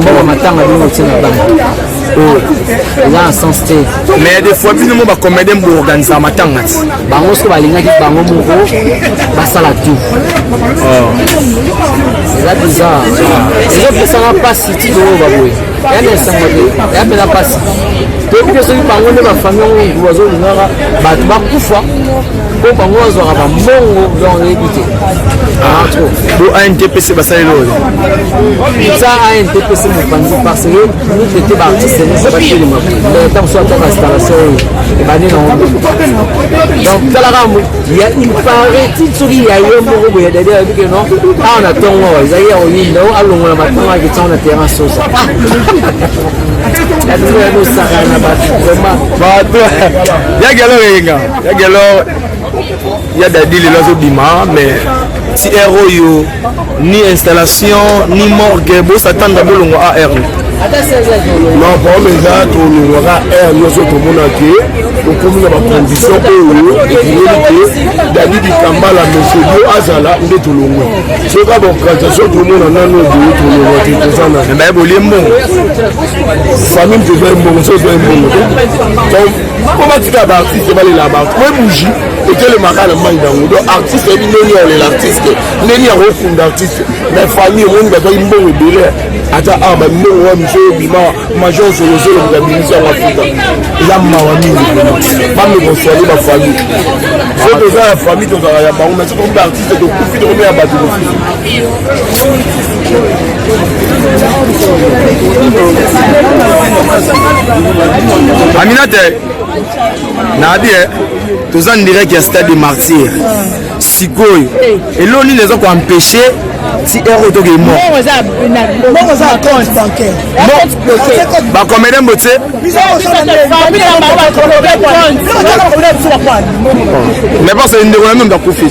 mbongo matanga bino otie na bango oyo oh. eza na sens te mais des fois bino mo bacomédien boorganisaka matanga ti bango soki balingaki bango moko basala tout oh. eza bizar ezopesaka mpasi ti toyo baboye ya na esango te ya mpena mpasi toyebi te soki bango nde bafamille yango bazolingaka bato bakufa po bango bazwaka bambongo donc oyebi te bo antpc basaleli oyo eza antpc mopanzi parce que mitete baartiste nyonso batelema mais ntango so ataka installation oyo ebandi na ngo donc talaka ya ipareti soki ya ye moko boye dadi ayebi ke non awa na ntongo awa ezali ya koyinda o alongola matongo ake ntango na terrain sosa bato ya nosaka na bato vraiment bato yaki aloko eyenga ya gelor ya dadi lelo azobima mais ti r oyo ni installation ni morgue bosatanda bolongo ar non problème eza tolongwaka r nyonso tomona ke tokomi na bacondition oyo ekingeli ke dadi dikambala mesedio azala nde tolongwe soki abaokazation tomona nano boye tolongwa te toza na baye bolie mbongo famille mpe eza mbongo so eza mbongo te mpo batika baartiste balela bato po ebuji etelemaka na mai nango donc artiste ayebi ndeni ya olela artiste ndeni yango okunda artiste na famille omoni bazwaki mbongo ebele ata awa bambongo wa miso obima major zolozolo moto abimisi yango afrika eza mawa mingi bamekoswale bafamille so toza ya famille tozalaka ya bango mais soki okomi baartiste tokufi tokomi ya bato mosusu aminate nabi eh, toza ndirek ya stade de martyr sikoyo elo nini eza koempeshe ti heure oyo tokei mobakomede mbo te mais parce que ndeko na meme bakufi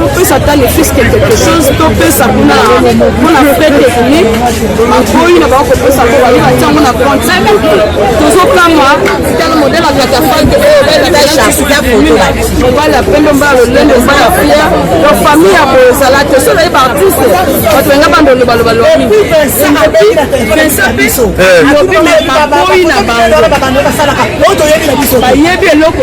bopesa ata ne fils que quelque chose topesa kuna mpona frais technique bakoyi na bango kopesa mpo baye batia yango na compte tozokanga tala modele ya katafalke oyo mobali ya pembe mbala lolendo mbala fia to famille ya boye ezala te so naye baartiste bato benga bandolo baloba lobi bakoyi na bango bayebi eloko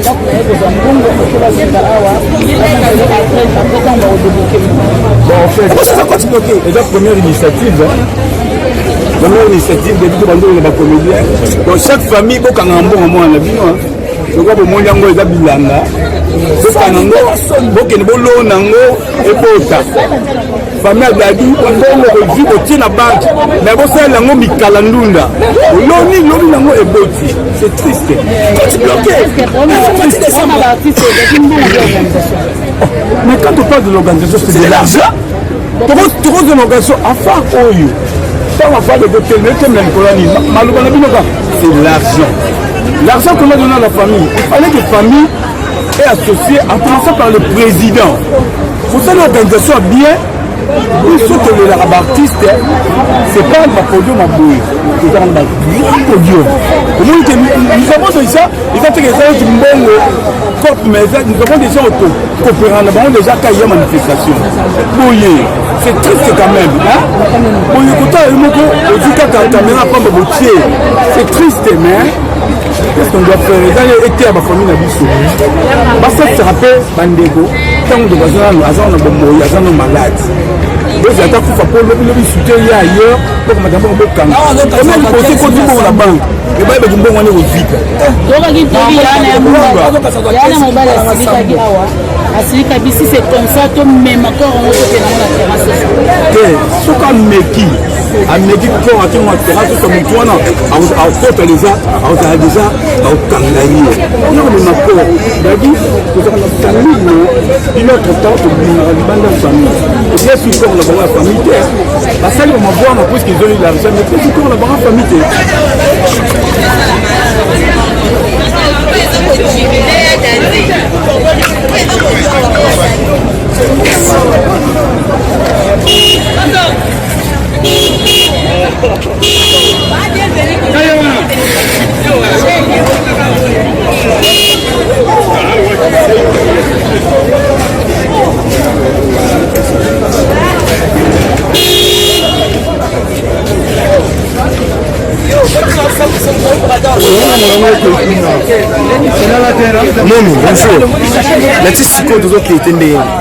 ndako na ye kozwa mbongo ekoki basenga awa apetanga odebloke eza koti bloke eza première initiative première initiative depuis tobandolo na bacomédien bon chaque famille bokangaka mbongo mwana na bino lokola bomoni yango eza bilanga bokana yango bokende bolona yango ebota famille adadi bongo kozwi kotie na banke me kosalela yango mikala ndunda oloni lobi nango eboti c'est triste koti bloke mais quand on parle de l'organisation c'est de l'argent tokozwa na organisation afar oyo ntango afar de kotelema etemela likolo ya nini maloba na bino ka c'est l'argent l'argent qu'on a donné à la famille il fallait que famille et associé en commençant par le président mosali organisation ya bien biso tolelaka baartiste c'est pas bapodium ya boye ezaka na bagrand podium omoni ke nous avons déjà eza teke eza neti mbongo cop mais nous avons déjà koperana bango déjà kai ya manifestation boye c'est triste quand même boye kotala yo moko ozwi kaka kamera pamba botie c'est triste mais Qu'est-ce qu'on doit faire eza ye eteya bafamille na biso basalisaka mpe bandeko ntango ndeko aza nano aza na bomoi aza no malade bozi ata kufa mpo lobilobi sute ye ailleurs mpo komata mbongo bokanga omeli kosi koti mbongo na banke ebai baki mbongo wana ekozika tokaki tobi yana ya mobali asilikaki awa asilika bisi c'est comme ça tomema corps yango tokenango na terrasse te soki ameki ameki kor atongo atera sosa motu wana akota deja akozala deja akokanga ye yo komema kor dadi kozala na famille no bino autre temps tobimaka libanda ya famille epesi kor na bango ya famille te basali bamabwa na puiske ezoli largeur mais epesi kor na bango ya famille te Thank you. noni bonjour nati sikoyo tozokei te ndenge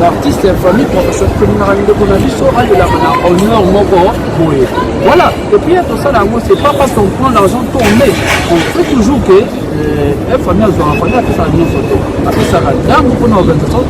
baartiste ya famille professeur tolinaka ndeko na biso alelaka na honneur moko boye voilà epuis tosala yango c'est pas parce qu'on prend l'argent to on met on fait toujours que euh, famille azwaka famille apesaka nyonso te apesaka ndambo mpona organisation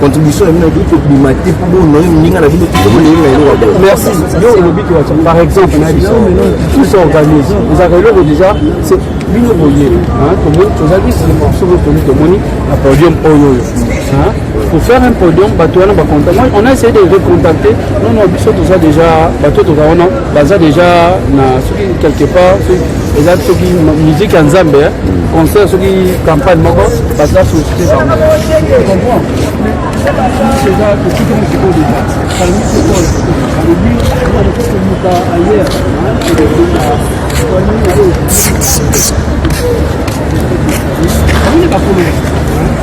contribution na bino ekoki kobima te mpo bonoye moninga na bino kito bolinga eloko te merci yo olobi te wacha par exemple na biso tout s'organise ezalaka eloko déjà c'est bino boye tomoni tozali nsima soki toni tomoni na podium oyo oyo pour faire un podium bato wana bacontact moi on a essayé de recontacter non non biso toza déjà bato toza wana baza déjà na soki quelque part soki eza soki musique ya nzambe eh. hmm. concert soki campagne moko baza société bango Thank you.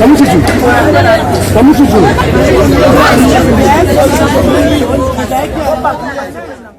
Kamususu. Kamususu.